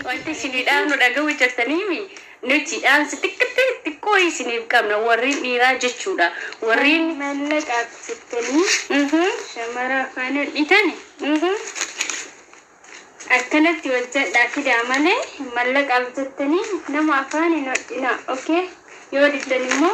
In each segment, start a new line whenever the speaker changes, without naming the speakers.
Wanti isinii dhaamnu dhaga'uu jirtaniimi nuti dhaamsa xiqqattee xiqqoo isiniif qabna warreen dhiiraa jechuudha. Warreen mallaqa jettanii shamara faana dhitani akkanatti hojjedhaa fidaa malee mallaqaaf jettanii nama afaan hin hodhinaa okay yoo diddan immoo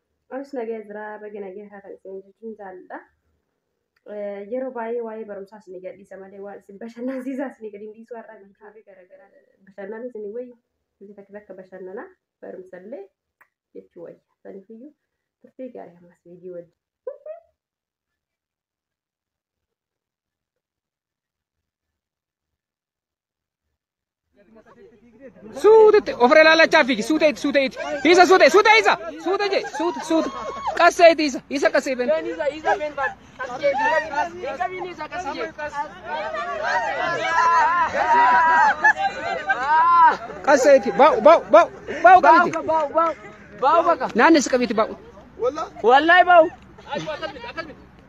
Anis nagaya jira baga nagaya taatan isin jechuun jaalladha. Yeroo baay'ee waa'ee barumsaa isin gadhiisa malee waan isin bashannansiisaa isin gadi hin dhiisu har'a biifaafi garaagaraa bashannana isin wayya. Isin takka takka bashannanaa barumsallee jechuu wayya. Sanifiyyuu turtii gaarii ammas viidiyoo wajjin.
Suutetti ofirra ilaalachaa fiigi suutee itti suutee itti isa suutee suutee isa suutee jee suute suute qassee itti isa isa qassee ben. Qassee itti baa'u baa'u baa'u baa'u qabiti Bau baka. naanni isa qabiti baa'u. Wallahi bau.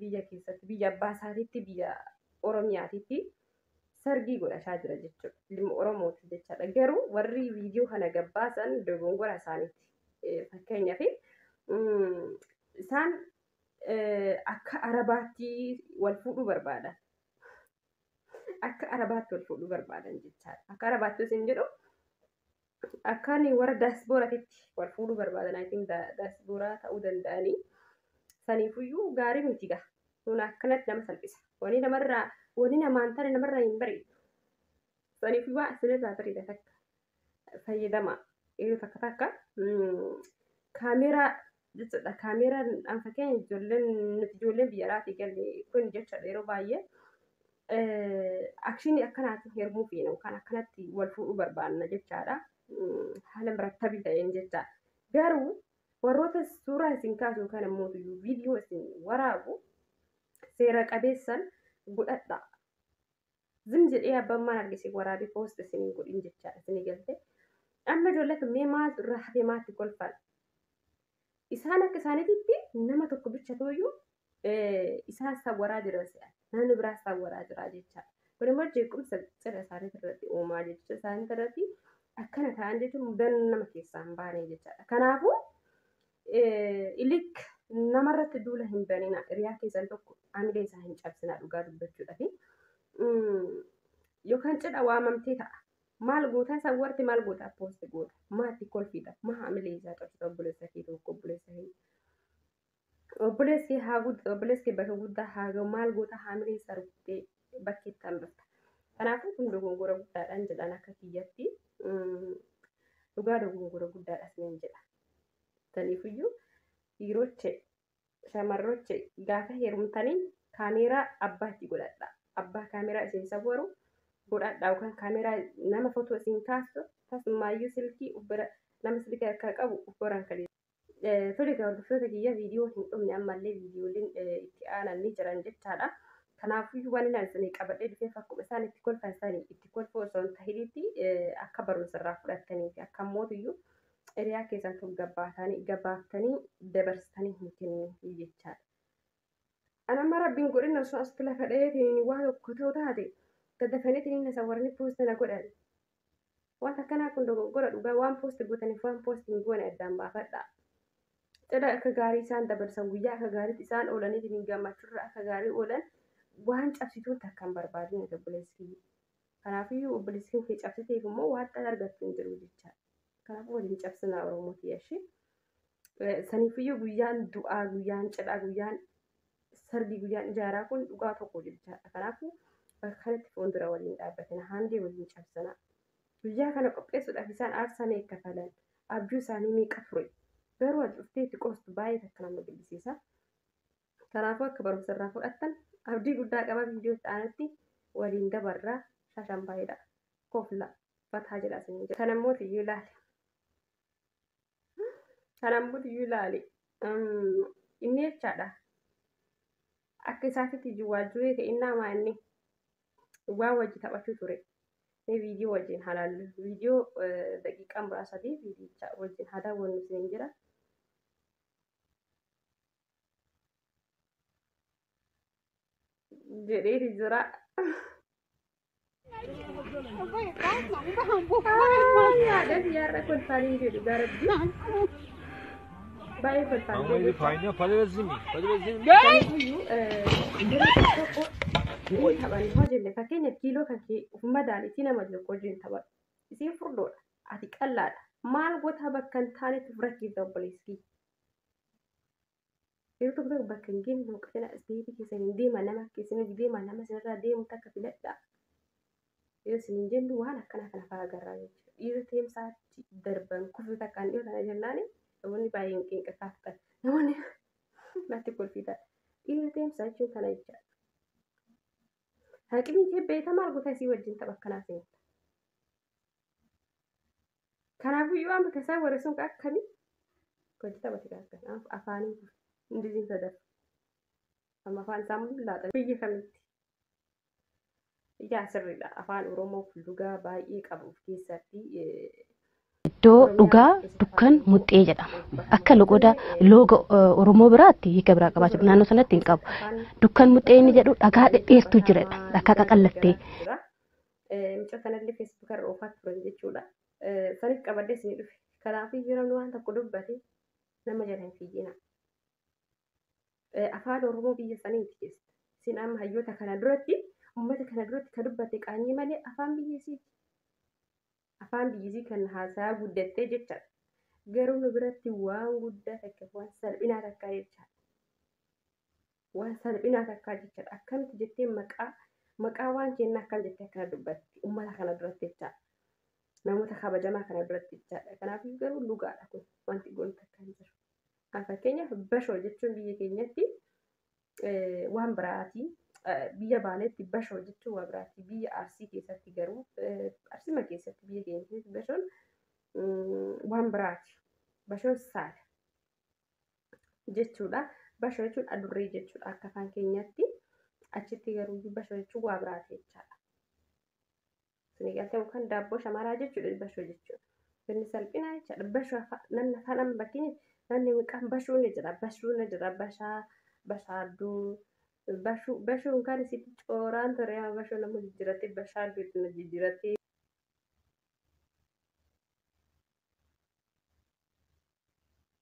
biyya keessatti biyya abbaa isaatiitti biyya Oromiyaatiitti sargii godhataa jira jechuudha. Ilma Oromooti jechaadha. Garuu warri viidiyoo kana gabbaasan dogongora isaaniiti. Fakkeenyaaf isaan akka arabaatti wal fuudhuu barbaadan. Akka arabaatti wal fuudhuu barbaadan jechaadha. Akka arabaatti isin jedhu akkaan warra daasbooraatitti wal fuudhuu barbaadan ayitiin daasbooraa ta'uu danda'anii saniifuyyuu gaarii miti gaa kun akkanatti nama salphisa wani namarraa wani namaan tana namarraa hin bareedu saniifuyyuu waan isinirraa bareeda takka fayyadama yeroo takka takka kaameeraa jechuudha. Kaameeraan an fakkeenya ijoolleen nuti ijoolleen biyya alaatii galle kun jechaadha yeroo baay'ee akshinii akkanaatiin heerumuu feena yookaan akkanatti wal fuudhuu barbaanna jechaadha. Haala murattabii ta'een jecha. Garuu warroota suuraa isin kaasu yookaan immoo viidiyoo isin waraabu seera qabeessan godhadha. Zim jedhee abbaan maal arge isin waraabee post isin hin godhin jechaadha isin galte. Amma ijoollee kan mee maaltu irraa hafee maatti kolfan. Isaan akka isaaniititti nama tokko bicha tooyyuu isaan sawwaraa jiran se'a. Namni biraa sawwaraa jira jechaadha. Kun immoo jeequmsa cira isaaniitti irratti uumaa jecha isaaniitti irratti akkana ta'an jechuun mudannoo nama keessaa hin baane jechaadha. Kanaafuu ilik namarratti duula hin banina hiriyaa keessan tokko amilee isaa hin cabsinaa dhugaa dubbachuudhaaf yookaan cidha waamamtee ta'a maal goota isa warti maal goota poosti goota maatti kolfiidha maa amilee isaa cabsita obboleessa kee tokko obboleessa hin obboleessi haa guddaa obboleessi bakka guddaa haa ga'u maal goota haamilee isaa rukuttee bakkeetti hambata kanaafuu kun dogongora guddaadhaan jedhan akka kiyyatti dhugaa dogongora guddaadhas nan jedha. Taniifuyyuu dhiiroche shamarroche gaafa heerumtanii kaameeraa abbaa itti godhadha. Abbaa kaameeraa isin sawwaru godhadha yookaan kaameeraa nama footoo isin kaasu tasumaayyuu silkii ubbira nama silkii harkaa qabu ubbaraan kan Tole egaa hordoftoota kiyya viidiyoon hin dhumne ammallee viidiyooleen itti aanan ni jiran jechaadha. Kanaafuu waan inni isinii qabadhee dhufeef akkuma isaan itti kolfan sanii itti kolfuu osoo hin tahinitti akka barumsa irraa fudhattanii fi akka mootiyyuu Xeriyaa keessan kan gabbaataanii gabaaftanii dabarsitanii hin kenninii jechaadha. Ana amma rabbiin godhinna osoo asitti lafa dhayeetiin waa tokko ta'u taate dadafaniitiin na sawwaranii poosti na godhan. Wanta akkanaa kun dogoggora dhugaa waan poosti gootaniif waan poosti hin goone addaan baafadha. Cidha akka gaarii isaan dabarsan guyyaa akka gaariitti isaan oolaniitiin gammachuurra akka gaarii oolan waan cabsituun takka hin barbaadin obboleessi kiyya. Kanaafiyyuu obboleessi kee cabsiteef immoo waaxxaan argattu hin jiru jechaadha. Kanaafuu waliin cabsinaa Oromoo tiyyashii. Saniifiyyuu guyyaan du'aa, guyyaan cidhaa, guyyaan sargii, guyyaan ijaaraa kun dhugaa tokko jechaadha. Kanaafuu bakka kanatti fuuldura waliin dhaabbatina. Haandee waliin cabsinaa. Guyyaa kana qopheessuudhaaf isaan aarsaa meeqa kafalan? Abjuu isaanii meeqa ture? Garuu ati dhuftee itti qoostu baay'ee takka nama gaddisiisa. Kanaafuu akka barumsa irraa fudhattan abdii guddaa qaba viidiyoo itti aanutti waliin dabarraa shashan bareeda kofla fataa jedha isin jedha. Kana immoo tiyyuu ilaali. Kana immoo tiyyuu ilaali. Inni jechaadha. Akka isaatitti jiwwaal turee ta'e innaa maa inni waa wajji taphachuu ture. Mee viidiyoo wajjin haa laallu. Viidiyoo daqiiqaa muraasadii viidiyicha wajjin haa daawwannu isin jira. jedheeti jira. Yaada biyyaarra kolfaanii jedhu garabbi. Baay'ee kolfaanii Ama ili jedhu. fayna
padazimi. Padazimi. Kanaafuu dirree tokko
inni taphan hoo jenne fakkeenyaaf kiiloo kan kee of madaali si nama tokko wajjin taphatu. Isiin furdoodha. Ati qallaadha. Maal gotaa bakka hin taanetti of rakkiifta obboleessi. Yeroo tokko tokko bakka hin geenne tokko fedha isiniitii keessan hin deema nama akka isiniif deema nama isinirraa deemu takka filadhaa. Yoo isin hin jennu waan akkanaa kana fa'aa agarraa jechuudha. Dhiira teemsaatti darban kufe takkaan dhiyoo tana jennaan namoonni baay'een qinqa kaaftan. Namoonni natti kolfiidha. Dhiira teemsaa jechuun kana jechaadha. Haqimii kee beektaa maal goota isii wajjin tapha akkanaa seenta. Kanaafuu yoo amma kasaan warra sun ka akkami gadi taphate ka akkan afaaniin kun indiziin sadaf amma afaan isaa mul'u laaxa biyya kamitti ijaa sirriidha afaan oromoo kun dhugaa baay'ee qabu of keessatti iddoo
dhugaa dukkan muxxee jedhama. Akka loqoda looga eh, Oromoo biraatti hiika biraa qabaachuu dha. naannoo sanatti hin qabu. Dukkan muxxee inni jedhu dhagaa dhedheertuu jiradha. Dhagaa qaqallattee.
Mucaa sanallee Facebook irra oofaa turan jechuudha. Sanis qabadhee isin dhufe. Kanaafuu yeroo inni waan tokko dubbate nama jala hin fiigina. Afaan Oromoo biyya saniiti keessa. Isin amma hayyoota kana duratti uummata kana duratti ka dubbatte qaanyii malee afaan biyya isiiti. Afaan biyya isii kan haasaa guddattee jecha garuu nu biratti waan guddaa takka waan salphinaa takka jecha waan salphinaa takkaa jechaadha akkamitti jettee maqaa maqaa waan kennaa akkam jettee akkana dubbatti ummata kana duratti jechaa namoota kabajamaa kana duratti jechaadha kanaaf garuu dhugaadha kun wanti goon takkaa hin jiru fakkeenyaaf bashoo jechuun biyya keenyatti waan biraatii biyya baaleetti bashoo jechuun waan biraatii biyya arsii keessatti garuu arsima keessatti biyya keenya keessatti bashoon waan biraati bashoon saala jechuudha. Basho jechuun adurree jechuudha akka afaan keenyaatti. Achitti garuu basho jechuun waa biraati jechaadha. Isin galtee yookaan daabboo shamaraa jechuudha basho jechuudha. Inni salphinaa jechaadha. Basho namni afaan amma fakkeenya namni maqaan bashuu ni jira. Bashuu ni jira. Bashaa bashaadduu. Bashuu bashuun kan isitti cooraan ture amma bashuu nama jijjiirattee bashaadduu itti na jijjiirattee.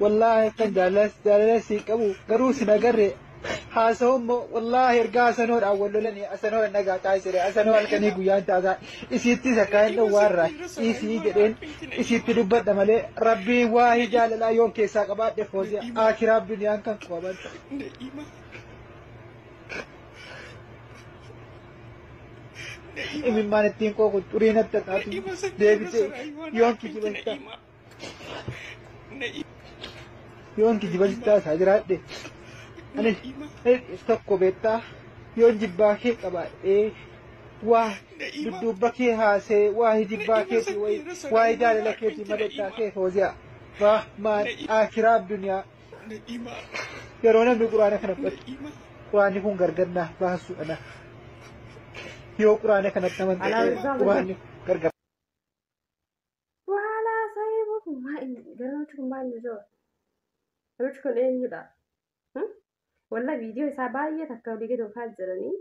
Wallaahi akkan jaalala siin qabu garuu sin agarre haasa'u immoo wallaahi ergaa asanoodhaan wal lolanii asanoo nagaa taasise asanoo halkanii guyyaan taasaa isiittis akka hin dhowwaarra isii jedheen isiitti dubbadha malee rabbii waahii jaalalaa yoon keessaa qabaadhe foozee akiraa duniyaan kan qaban. Imimmaan ittiin qooqu xurii natti taatu deebitee yoon kijiba Yoon kijiba sittaa isaa jiraadhe. Ani tokko beektaa yoon jibbaa kee qabaadhee waa dudduubba kee haasee waa hijibbaa keetii wayi waa jaalala keetii madaddaa kee fooziyaa waa maan akiraa duniyaa yeroo namni quraana kana fudhatu quraanni kun gargar naaf baasuudha na yoo quraana kanatti amantaa quraanni gargar
Waala haasa'ee boku maa inni garamichi kun maal nu jira? Namichi kun eenyudha? Walla viidiyoo isaa baay'ee takka olii gadi oofaa jiranii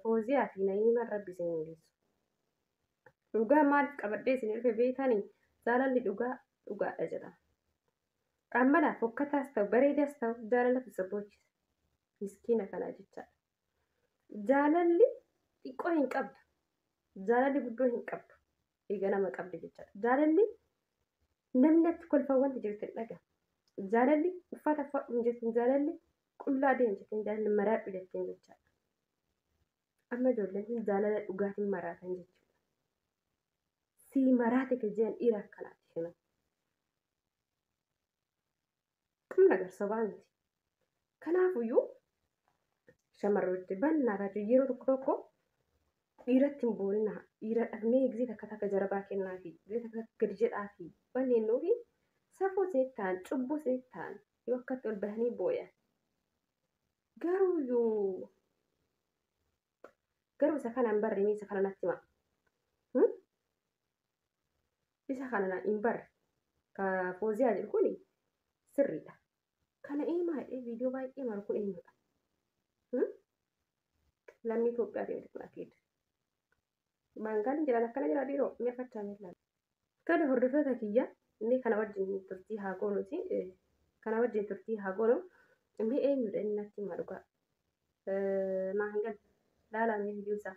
fooziyaa fi na'iimaan rabbi isin mul'isu. Dhugaa maaliif qabadhee isin dhufe beekanii jaalalli dhugaa dhugaadha jedha. Qaammanaa fokkataas ta'u bareedaas ta'u jaalalatu isa boochisa. Miskiina kanaa jechaadha. Jaalalli xiqqoo hin qabdu. Jaalalli guddoo hin qabdu. Egaa nama qabdi jechaadha. Jaalalli namni achi kolfaa wanti jirtu hin dhaga. Jaalalli uffata uffadhu hin jettu. Jaalalli qullaa deemu jettu. Jaalalli maraadhu jettu jechaadha. Amma ijoolleen kun jaalala dhugaatiin maraatan jechuudha. Sii maraate kan jedhan dhiira akkanaati. Kun nagar sobaa miti. Kanaafuyyuu shamarrooti bannaa taate yeroo tokko tokko dhiiratti hin boonina. Dhiira dhabnee gisee takka takka jarabaa kennaa fi gisee takka takka gadi jedhaa fi banneennuu fi safuu isinitti ta'an cubbuu isinitti ta'an yoo akkatti ol bahanii booyan. Garuuyyuu Garuu isa kana hin barre mee isa kana natti hima. Hmm? Isa kana na- hin barre. Ka fooziyaa jedhu kuni sirriidha. Kana eemaa jedhee viidiyoo baay'ee maru kun eenyudha? Hmm? Lammii Itoophiyaa ta'e kun akeeda. Baangaaliin jedhan akkana jira dhiiroo ni afachaa miillaan. Tole hordoftoota kiyya mee kana wajjin turtii haa goonuti kana wajjin turtii haa goonu mee eenyudha inni natti hima dhugaa naa hin galle laalaa mee viidiyoo isaa.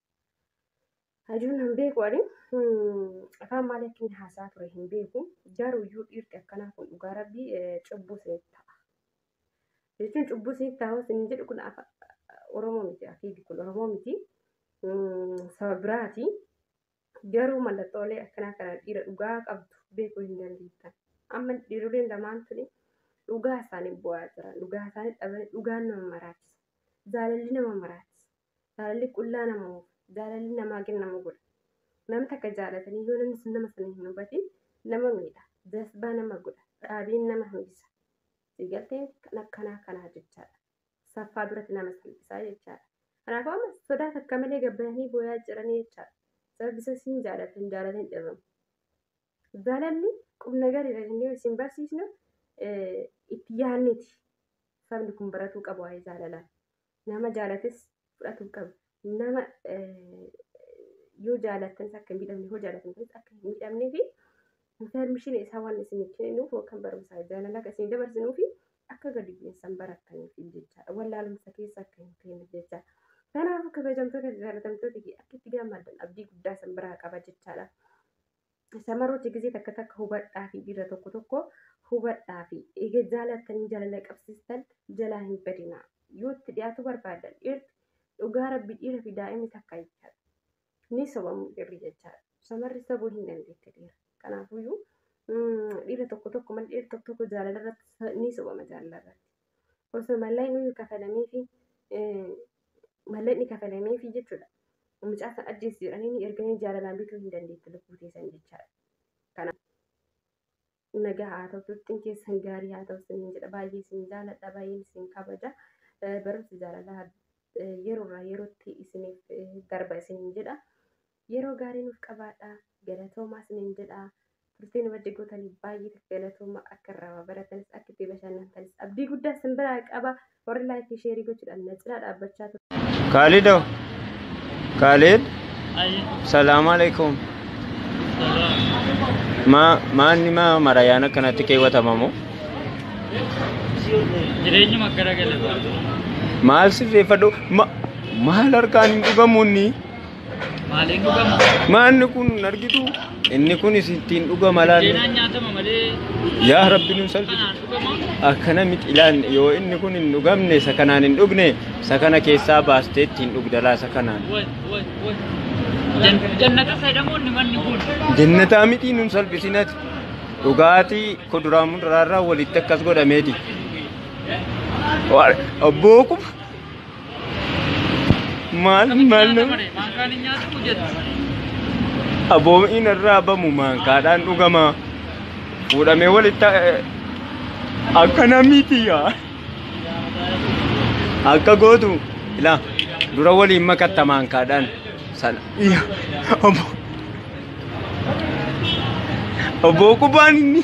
Hajuun hin beeku ani afaan maal akkin haasaa ture hin beeku garuu iyyuu dhiirti akkanaa kun dhugaa rabbii cubbuu isinitti ta'a. Jechuun cubbuu isinitti ta'a isin jedhu kun Oromoo miti akiidi kun Oromoo miti saba biraati. Garuu mallattoolee akkanaa kana dhiira dhugaa qabdu beekuu hin dandeettan. Amma dhiiroleen lamaan tuni dhugaa isaanii bu'aa jiran dhugaa isaanii dhabanii dhugaan nama maraachisa. Jaalalli nama maraachisa. Jaalalli qullaa nama oofa. Jaalalli namaa gad nama godha. Nama takka jaalatanii yoo namni sun nama sana hin hubatin nama miidha. Jasbaa nama godha. Dhaabiin nama hambisa. Siigalteen kan akkanaa kanaa jechaadha. Saffaa duratti nama salphisaa jechaadha. Kanaafuu amma sodaa takka malee gabbayanii booyaa jiranii jechaadha. Sababni isaas hin jaalatan jaalatan dhabamu. Jaalalli qubna gariidha jennee isin barsiisnu itti yaadniti. Sabni kun baratuu qabu waa'ee jaalalaa. Nama jaalates fudhatuu qaba. Nama yoo jaalattan akka hin miidhamne yoo jaalatan ta'es akka hin miidhamnee fi intarmishiin isaa waan isin kenninuuf yookaan barumsaa jaalalaa kan isin dabarsinuu fi akka gadi bu'insan barattaniif jechaadha. Wallaalumsa keessa akka hin teenye jecha. Kanaaf kabajamtoota jaallatamtoota fi akka itti gammaddan abdii guddaa isin biraa qaba jechaadha. Samaroota gisee takka takka hubadhaa fi dhiira tokko tokko hubadhaa fi eega jaalattanii jaalala qabsiistan jalaa hin badinaa. Yoo itti dhiyaatu barbaadan dhiirti dhugaa rabbi dhiira fi daa'imni takka jechaadha. Ni sobamu dhiirri jechaadha. Samarri sabuu hin dandeette dhiira. Kanaafuyyuu dhiira tokko tokko malee dhiira tokko tokko jaalala irratti ni sobama jaalala irratti. Osoo mallaayinuu kafalamee fi mallaqni kafalameefi jechuudha. Mucaa san ajjeesi jedhanii erganii jaalalaan bituu hin dandeetti lubbuu teessan jechaadha. Kana nagaa haa ta'u turtiin keessan gaarii haa ta'u siniin jedha baay'ee isin jaaladha baay'een isin kabaja barumsa jaalalaa yeroo irraa yerootti isiniif darba isiniin jedha. Yeroo gaarii nuuf qabaadha. Galatoomaa isiniin jedha. Turtii nu wajji gootaniif baay'ee galatooma. Akka irraa waa baratanis akka itti bashannantanis abdii guddaa isin biraa qaba. Warri laayikii sheerii gochuudhaan na cinaa dhaabbachaa turtan. Khalid oh.
Khalid. Salaam alaikum. Ma
maanni ma marayaan akkanatti keewwatamamu.
Jireenyuma gara galee Maal
sirreeffadhu ma maal harkaan hin dhugamuunni. Maaliin
dhugamu? Maanni kun
argitu inni kunis ittiin dhugama laanne. Seenaan nyaatama
malee Yaa rabbi nu
salphisi. kanaan dhugama.
Akkana miti
ilaan yoo inni kun hin dhugamne isa kanaan hin dhugne isa kana keessaa baastee ittiin dhugdalaa isa kanaan. Wal wal wal. Jan-
Jannata fayyadamoonni manni kun. Jennataa miti
nun salphisinati. Dhugaatii kuduraa muduraarraa walitti akkas godhameeti. Waa- Abboo kun Maal maal nama. Maankaan hin nyaatamu jedha. Aboomiin irraa bamu maankaadhaan dhugama. Fuudhamee walitti eh, akka namiiti yaa. Akka gootu ilaa dura waliin makatta maankaadhaan sana. Yaa, Obbo. Obbo Qubaan inni.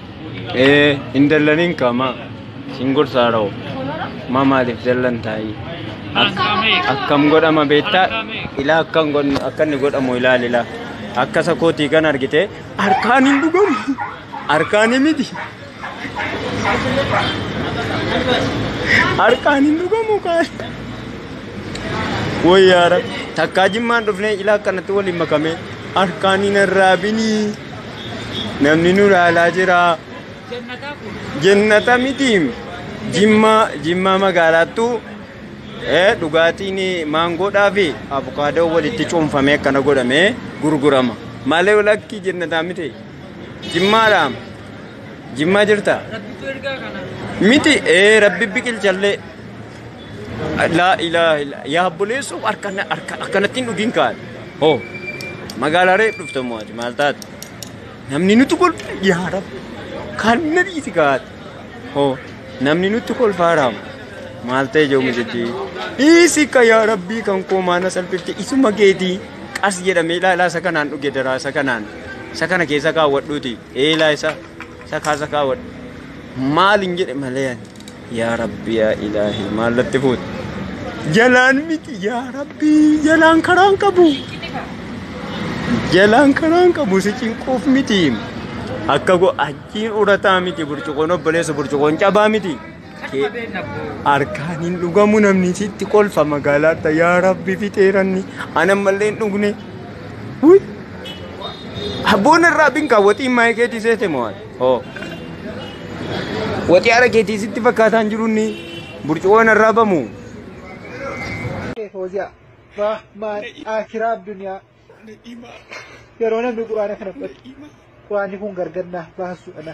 Ee hin dallaniin qaama siin gorsaa rawo maa maaliif dallan taa'ii akkam godhama beektaa ilaa akkan godhu akka inni godhamu ilaali ilaa akka isa kootii kan argite harkaan hin dhugamu harkaan miti harkaan hin dhugamu kaan wayyaara takkaa jimmaan dhufnee ilaa akkanatti waliin makamee harkaan hin arraabinii. namni nu laalaa jira jennata miti jimmaa jimmaa magaalaattu eh, dhugaatiin maangoodhaa fi abukaadoo walitti cuunfamee akkana godhamee gurgurama malee lakkii jennataa miti jimmaadha jimmaa jirta miti ee rabbi biqilchallee Laa ilaaha illa yaa buleessoo harkana harka akkanattiin dhugiin kaan. Hoo magaalaa reef dhufte immoo ati maal taate? Namni nutti kolfe yaa rabbi kan na dhiisi kaate. Hoo namni nutti kolfaa raama. Maal ta'e jiru misichi? Dhiisi ka yaa rabbii kan koo maana salphifte isuma keetii qas jedhamee ilaalaa isa kanaan dhuge daraa isa kanaan isa kana keessa kaawwadhuuti eelaa isa isa kaasa kaawwadhu. Maal hin jedhe malee ani. Yaa Rabbi yaa Ilaahi maal natti fuute? Jalaan miti yaa Rabbi jalaan karaan qabu. Jalaan karaan qabu si cinquuf miti. Akka go achiin urataa miti burcuqoon obboleessa burcuqoon cabaa miti. Harkaan hin dhugamu namni sitti kolfa magaalaatti yaa Rabbi fixeeranni ana mallee hin dhugne. Abboon irraa binkaa waxiin maayikeetii seete mo'aadha. Oh. Waxii ara keetii sitti fakkaataan jirunni burcuqoon irraa bamu. Fooziyaa.
Rahmaan akiraa addunyaa. Yeroo namni quraana kana fudhatu. Quraanni kun gargar naaf baasuudha.